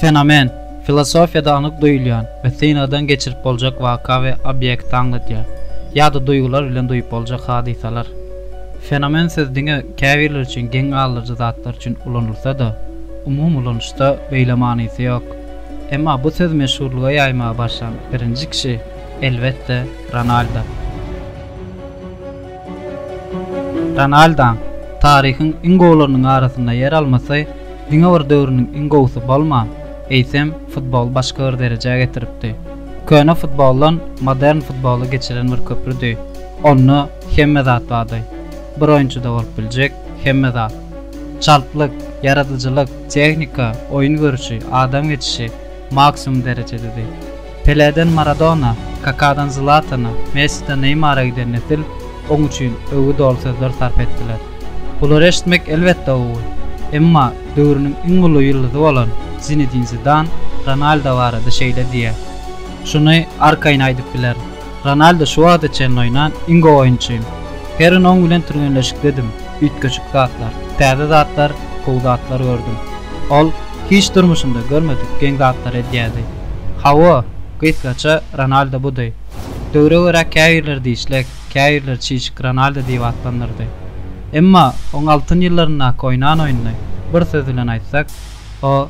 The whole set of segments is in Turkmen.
Fenomen, filosofiýada anyk duýulýan we synagdan geçirip boljak waka we obýekti aňladýar, ýa-da duýgular bilen duýup boljak hadysalar. Fenomen sözi diňe käbirler üçin geň galdyryjy zatlar üçin ulanylsa-da, umumy ulanyşda beýle manysy ýok. Emma bu sözi meşhurlyga ýaýmaga başlan birinji kişi, elbetde, Ronaldo. Ronaldaň taryhyň iň gowularynyň arasynda ýer almasy diňe bir döwrüniň iň gowusy bolman, eýsem, futboly başga bir derejä getiripdi. Köne futboldan modern futbola geçiren bir köprüdi. Onda hemme zat bardy. Bir oýunçyda bolup biljek hemme zat. Çaltlyk, ýaradyjylyk, tehnika, oýun görşi, adam geçişi maksimum derejededi. Peleden Maradona, Kakadan Zlatana, Messiden Neýmara giden nesil oň üçin öwgi doly sözler sarp etdiler. Bulary eşitmek elbetde gowy. Emma döwrüniň iň uly ýyldyzy bolan Zinedin Zidan Ronaldo barada şeýle diýýär, Şuny arkaýyn aýdyp bilerin. Ronaldo şu wagta çenli oýnan iň gowy oýunçym. Her gün oň bilen türgenleşikdedim, üýtgeşik zatlar, täze zatlar, gowy zatlar gördüm. Ol hiç durmuşynda görmedik geň zatlary edýärdi. Hawa, gysgaça Ronaldo budy. Döwre görä käbirleri dişlek, käbirleri çişik Ronaldo diýip atlandyrdy. Emma oň altyn ýyllaryndaky oýnan oýnuny bir söz bilen aýtsak, o,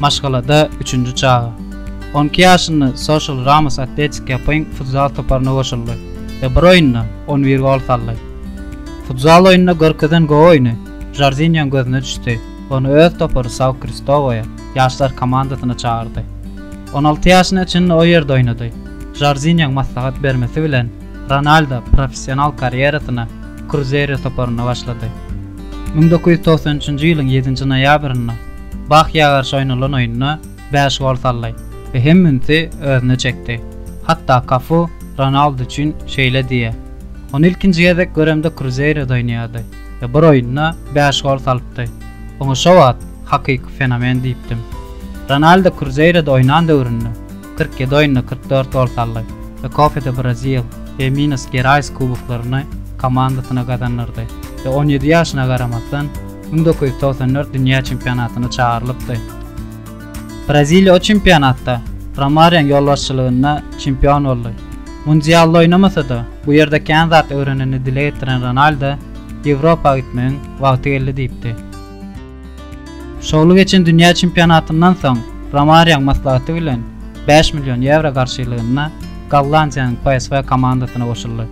Maşgalada üçünji çaga. On iki ýaşynda Social Ramos Atletik ýapyň futzal toparyna goşuldy we bir oýunda on bir gol saldy. Futzal oýnunda görkezen gowy oýny Žorzinýoň gözüne düşdi we ony öz topary São Kristowoýa ýaşlar komandasyna çagyrdy. On alty ýaşyna çenli o ýerde oýnady. Žorzinýoň maslahat bermesi bilen Ronaldo professional karýerasyna Kruzeiro toparynda başlady. Müň dokuz ýüz togsan üçünji ýylyň ýedinji noýabrynda Bahýa garşy oýnalan oýunda bäş gol saldy we hem ünsi özüne çekdi. Hatda Kafu Ronaldu üçin şeýle diýýär, Ony ilkinji gezek göremde Kruzeiroda oýnaýardy we bir oýunda bäş gol salypdy. Oňa şo wagt hakyky fenomen diýipdim. Ronaldu Kruzeiroda oýnan döwründe kyrk ýedi oýunda kyrk dört gol saldy we Copa do Brasil we Minas Gerais kuboklaryny komandasyna gazandyrdy we on ýedi ýaşyna garamazdan, müň dokuz ýüz togsan dört dünýä çempionatyna çagyrylypdy. Braziliýa o çempionatda Romarýoň ýolbaşçylygynda çempion boldy. Mundialda oýnamasa-da, bu ýerde kän zat öwrenenini dile getiren Ronaldo Ýewropa gitmegiň wagty geldi diýipdi. Şowly geçen dünýä çempionatyndan soň Romarýoň maslahaty bilen bäş million ýewro garşylygynda Gollandiýanyň PSV komandasyna goşuldy.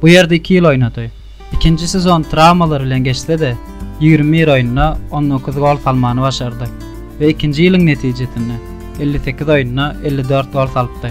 Bu ýerde iki ýyl oýnady. Ikinji sezon trawmalar bilen geçse-de, ýigrimi bir oýunda on dokuz gol salmany başardy we ikinji ýylyň netijesinde elli sekiz oýunda elli dört gol salypdy.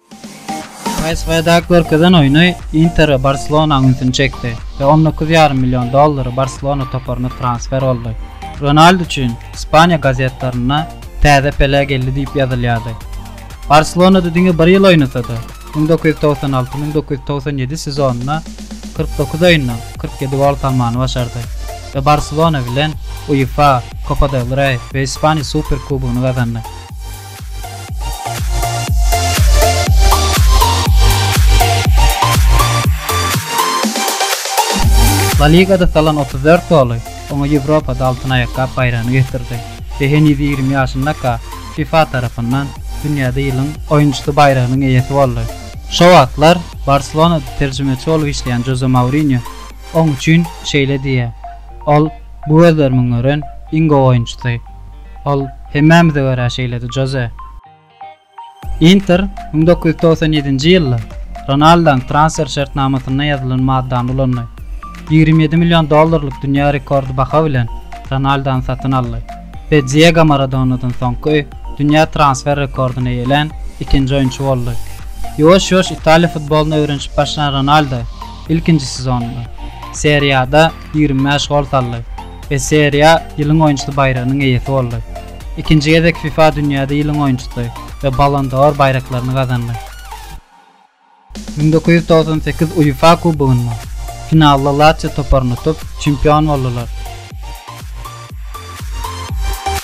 PSŽ-de görkezen oýny Inter we Barselonanyň ünsüni çekdi we on dokuz ýarym million dollary Barselona toparyna transfer boldy. Ronaldu üçin Ispaniýa gazetlerinde täze Pele geldi diýip ýazylýardy. Barselonada diňe bir ýyl oýnasa-da, müň dokuz ýüz togsan alty, müň dokuz ýüz togsan ýedi sezonynda kyrk dokuz oýunda kyrk ýedi gol salmany başardy we Barselona bilen UEFA, Copa del Rey we Ispaniýa Superkubogyny gazandy. La Ligada salan otuz dört goly oňa Ýewropada Altyn aýakgap baýragyny getirdi we heniz ýigrimi ýaşyndaka fifa tarapyndan Dünýäde ýylyň oýunçysy baýragynyň eýesi boldy. Şo wagtlar Barselonada terjimeçi bolup işleýän Joze Mourinýo oň üçin şeýle diýýär, Ol bu gözlerimiň gören iň gowy oýunçysy. Ol hemmämize görä şeýledi, Joze. Inter müň dokuz ýüz togsan ýedinji ýylda Ronaldaň transfer şertnamasynda ýazylan maddany ulandy. Ýigrimi ýedi million dollarlyk dünýä rekordy baha bilen Ronaldany satyn aldy we Diego Maradonadan soňky dünýä transfer rekordyny eýelän ikinji oýunçy boldy. Ýuwaş-ýuwaş Italiýa futbolyny öwrenişip başlan Ronaldo ilkinji sezonynda Serie A-da ýigrimi bäş gol saldy. we Serie A ýylyň oýunçysy baýragynyň eýesi boldy. Ikinji gezek fifa dünýäde ýylyň oýunçysy we Ballon d'Or baýraklaryny gazandy. Müň dokuz ýüz togsan sekiz UEFA kubogynda finalda Latsio toparyny utup, çempion boldular.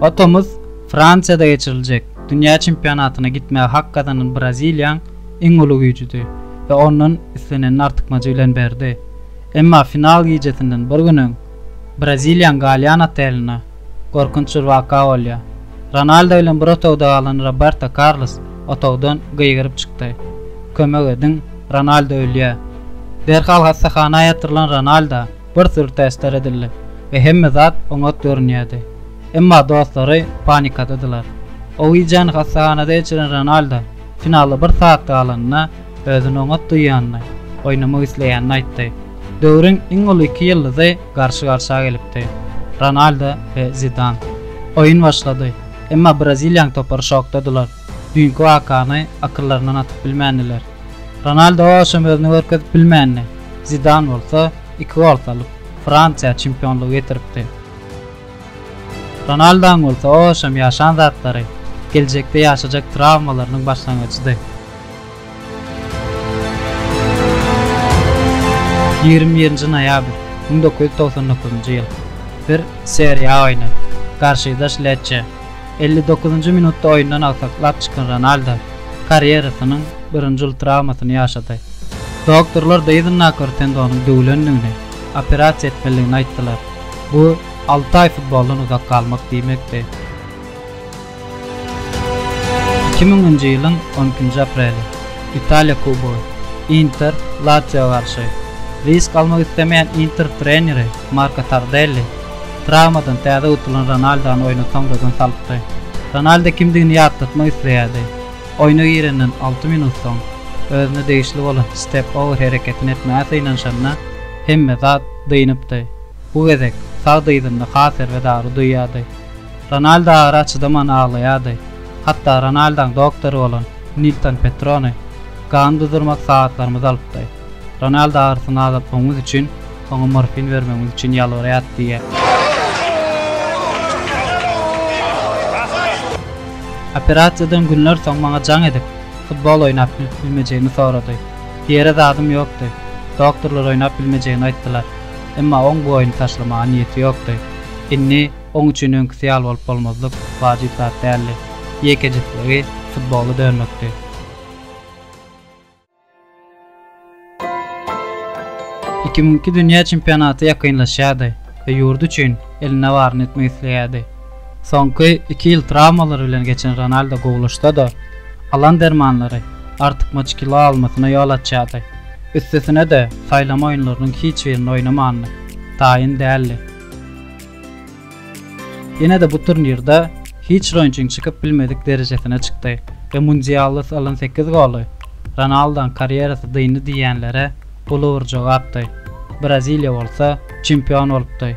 Atamyz Fransiýada geçiriljek dünýä çempionatyna gitmäge hak gazanan Braziliýaň iň uly güýjüdi we ondan islenenini artykmajy bilen berdi. Emma final gijesinden bir gün öň, Braziliýaň galýan otelinde gorkunç bir waka bolýar. Ronaldo bilen bir otagda galan Roberto Karlos otagdan gygyryp çykdy, Kömek ediň, Ronaldo ölýär! Derhal hassahana ýatyrylan Ronaldo Bir syr täsdir edildi we hemme zat oňat görünýärdi. Emma dostlary panikadadylar. Owiýjany hassahanada geçiren Ronaldo finala bir sagat galanda özüni oňat duýýanyny, oýnamak isleýänini aýtdy. Döwrüň iň uly iki ýyldyzy garşy-garşa gelipdi. Ronaldo we Zidan. Oýun başlady, emma braziliýaň topary şokdadylar. Düýnki wakany akyllaryndan atyp bilmändiler. Ronaldo owaşam özüni görkezip bilmändi. Zidan bolsa iki gol salyp, Fransiýa çempionlygy getiripdi. Ronaldoň bolsa owaşam ýaşan zatlary, geljekde ýaşajak trawmalarynyň başlangyjydy. Ýigrimi birinji noýabr, müň dokuz ýüz togsan dokuzynjy ýyl. Bir Serie A oýny. Garşydaş Lecce. Elli dokuzynjy minutda oýundan agsaklap çykan Ronaldo karýerasynyň birinji uly trawmasyny ýaşady. Doktorlar Deýzin nakar tendonyň döwülendigini, operasiýa etmelidigini aýtdylar. Bu alty aý futboldan uzak galmak diýmekdi. Iki müňünji ýylyň on ikinji apreli. Italiýa kubogy. Inter, Latsiýo garşy. Risk almak islemeýän Inter treneri Marko Tardelli Trawmadan täze utulan Ronaldony oýna soňradan salypdy. Ronaldo kimdigini ýatlatmak isleýärdi. Oýna girenden alty minut soň, özüne degişli bolan step-over hereketini etmäge synanyşanda, hemme zat dynypdy. Bu gezek sag dyzynda has erbet agyry duýýardy. Ronaldo agyra çydaman aglaýardy. Hatda Ronaldaň doktory bolan Nilton Petrone gany duzurmak sagatlarymyzy alypdy. Ronaldo agyrysyny azaltmagymyz üçin Oňa morfin bermegimiz üçin ýalbarýarys diýýär. Operasiýadan günler soň maňa jaň edip, futbol oýnap bilmejegimi sorady. Diýere zadym ýokdy. Doktorlar oýnap bilmejegini aýtdylar. Emma oň bu oýny taşlamaga niýeti ýokdy. Indi oň üçin öňküsi ýaly bolup bolmazlyk wajyp zat däldi. Ýekejesizligi futbola dönmekdi. Iki müň iki dünýä çempionaty ýakynlaşýardy we ýurdy üçin elinde baryny etmek isleýärdi. Soňky iki ýyl trawmalar bilen geçen Ronaldo gowulaşsa-da, alan dermanlary artykmaç kilo almasyna ýol açýardy. Üstesine-de, saýlama oýunlarynyň hiç birinde oýnamandyr. Taýyn däldi. Ýene-de bu turnirde hiç oýunçyň çykyp bilmedik derejesine çykdy we mundialda salan sekiz goly Ronaldoň karýerasy dyndy diýýänlere uly bir jogapdy. Braziliýa bolsa çempion bolupdy.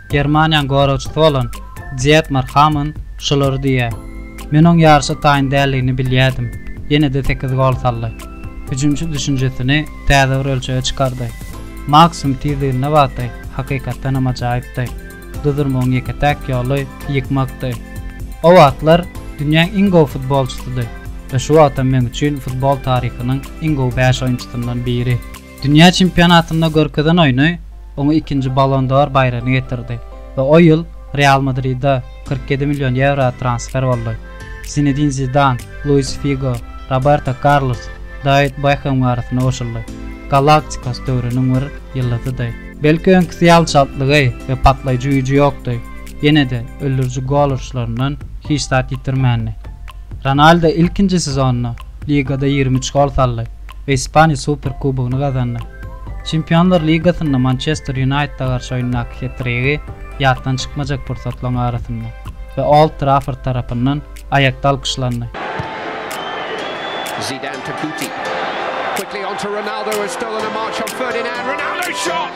Germaniýanyň goragçysy bolan Dietmar Hamann şulary diýýär, Men oň ýaryşa taýyn däldigini bilýärdim, ýene-de sekiz gol saldy. Hüjümçi düşünjesini täze bir ölçege çykardy. Maksimum tizliginde wagty hakykatdan hem ajaýypdy. Duzurmagyň ýeke-täk ýoly ýykmakdy. O wagtlar dünýäň iň gowy futbolçysydy we şu wagtam meň üçin futbol taryhynyň iň gowy bäş oýunçysyndan biri. Dünýä çempionatynda görkezen oýny oňa ikinji Ballon d'Or baýragyny getirdi we o ýyl Real Madride kyrk ýedi million ýewro transfer boldy. Zinedin Zidan, Luis Figo, Roberto Karlos, Dawid Bekham arasynda goşuldy. Galaktikos döwrüniň bir ýyldyzydy. Belki öňküsi ýaly çaltlygy we patlaýjy güýji ýokdy, ýene-de öldüriji gol uruşlaryndan hiç zat ýitirmändi. Ronaldo ilkinji sezonynda ligada ýigrimi üç gol saldy. we Ispaniýa Superkubogyny gazandy. Çempionlar ligasynda Mançester Ýunaýtede garşy oýundaky het-trigi ýatdan çykmajak pursatlaryň arasynda we Old Trafford tarapyndan aýakda alkyşlandy. Zidane to Guti. Quickly onto Ronaldo, has stolen a march on Ferdinand, Ronaldo shot!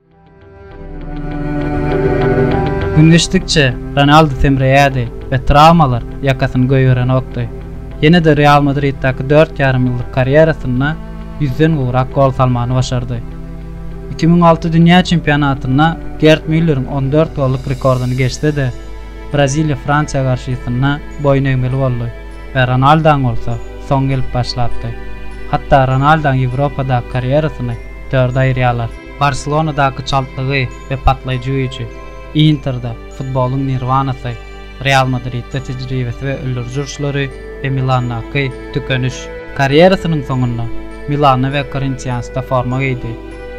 Gün geçdikçe Ronaldu semreýärdi we trawmalar ýakasyny goýberenokdy. Ýene-de Real Madriddäki dört ýarym ýyllyk karýerasynda ýüzden gowrak gol salmany başardy. Iki müň alty dünýä çempionatynda Gerd Mülleriň on dört golluk rekordyny geçse-de, Braziliýa Fransiýa garşysynda boýun egmeli boldy we Ronaldaň bolsa soň gelip başlapdy. Hatda Ronaldaň Ýewropadaky karýerasyny dörde aýyrýarlar. Barselonadaky çaltlygy we patlaýjy güýji, Interde, futbolyň nirwanasy, Real Madridde tejribesi we öldüriji uruşlary we Milandaky Tükeniş. Karýerasynyň soňunda Milanda we Korintiansda forma geýdi.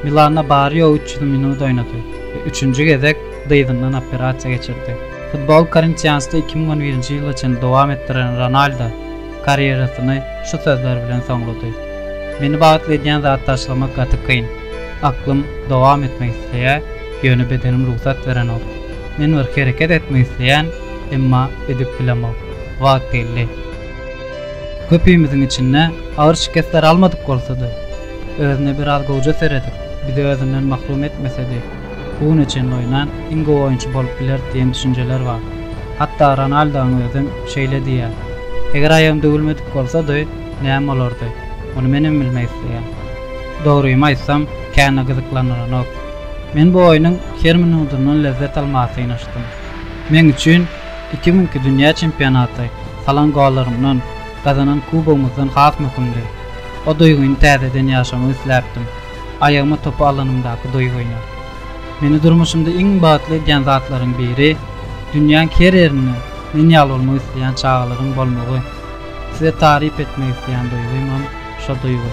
Milanda bary ýogy üç ýüz minut oýnady we üçünji gezek dyzyndan operasiýa geçirdi. Futboly Korintiansda iki müň on birinji ýyla çenli dowam etdiren Ronaldo karýerasyny şu sözler bilen soňlady, Meni bagtly edýän zat taşlamak gaty kyn. Aklym dowam etmek isleýär, ýöne bedenim rugsat berenok. Men bir hereket etmek isleýän, emma edip bilemok. Wagt geldi. Köpimiziň içinde agyr şikesler almadyk bolsady, özüne biraz gowja seredip, bizi özünden mahrum etmesedi, Bu güne çenli oýnan iň gowy oýunçy bolup biler diýen düşünjeler bar. Hatda Ronaldoň özem şeýle diýýär. Eger aýagym döwülmedik bolsady, näme bolardy? Muny menem bilmek isleýän. Dogrymy aýtsam, kän-de gyzyklandyranok. Men bu oýnuň her minudyndan lezzet almaga synanyşdym. Meň üçin iki müňki dünýä çempionaty salan gollarymdan, gazanan kubogymyzdan has möhümdi. O duýgyny täzeden ýaşamak isläpdim. Aýagyma topy alanymdaky doýgy oýnar. Meni durmuşymda iň bagtly edýän zatlaryň biri, dünýäň her ýerinde men ýaly bolmak isleýän çagalaryň bolmagy. Size taryp etmek isleýän doýgymam şo doýgy.